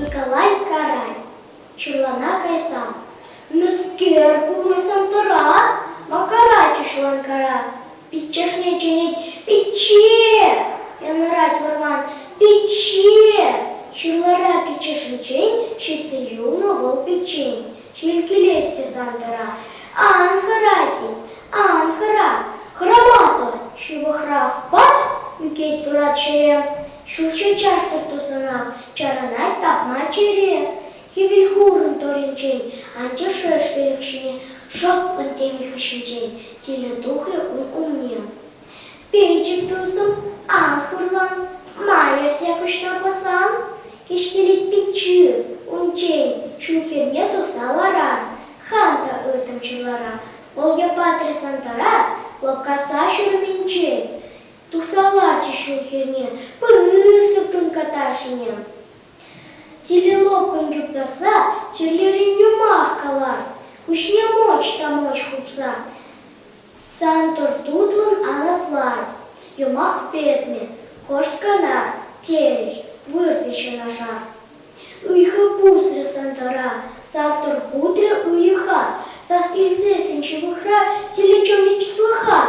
Николай Карай, чуллана кайсан, мӗскер пулмасан тӑра, Макара чушлан кара, пиччешне чӗнет, пичче! Янӑрать вӑрман, пичче! Ҫырлара пиччешӗнчен ҫитсе юлнӑ вӑл пиччен. Ҫил килетчӗ Сантӑра. Ан хӑра, тет, ан хӑра. Хӑрамасӑр ҫывӑхрах пат ӳкет турат ҫӗре. Ҫулҫӑ чаштӑр тусӑна чарӑнать тапма чӗре. Хӗвел хурӑн торӗнчен анчӗ шӗш-вӗлӗх ҫине шӑппӑн теми хыҫӗнчен тилӗ тухрӗ ун умне. Пӗчӗк тусӑм, ан хурлан, ма ӗҫсе пуҫна пӑсан? Кӗҫкелет пиччӳ, унччен ҫул хӗрне тухса ларар. Хам та ыртӑм чӑлара, вӑл япатрӗ Сантӑра лӑпкаса ҫурӑмӗнчен тухса ларчӗ ҫул хӗрне пысӑк тунката ҫине. Телелокон юрласа чирлерен юмах калар, куҫне моч та моч хупса Сан туртутлӑн ан аслат, юмах петнӗ кошткана, терӗҫ выртнӑ ҫӑнӑша. Ыйхӑ пусрӗ Сантӑра, сав турпутрӗ уйӑха, сас илсе сӗн ҫывӑхра тилӗ чоми чӑслӑха.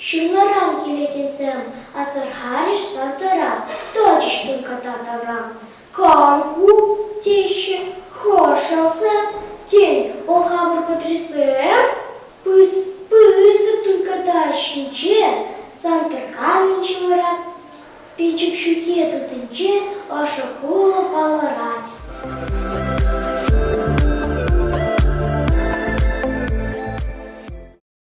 Ҫырларан килекенсем асӑрхарӗҫ Сантӑра, тӑчӗҫ тунката тавра. Канку теҫҫӗ хӑшӗлсӗ, тен, вӑл хамӑр подъезде? Пысӑк тунката ҫинче Сантӑрканнинче вара печӗк ҫухи тытинче ӑшӑ хулӑ палӑрать.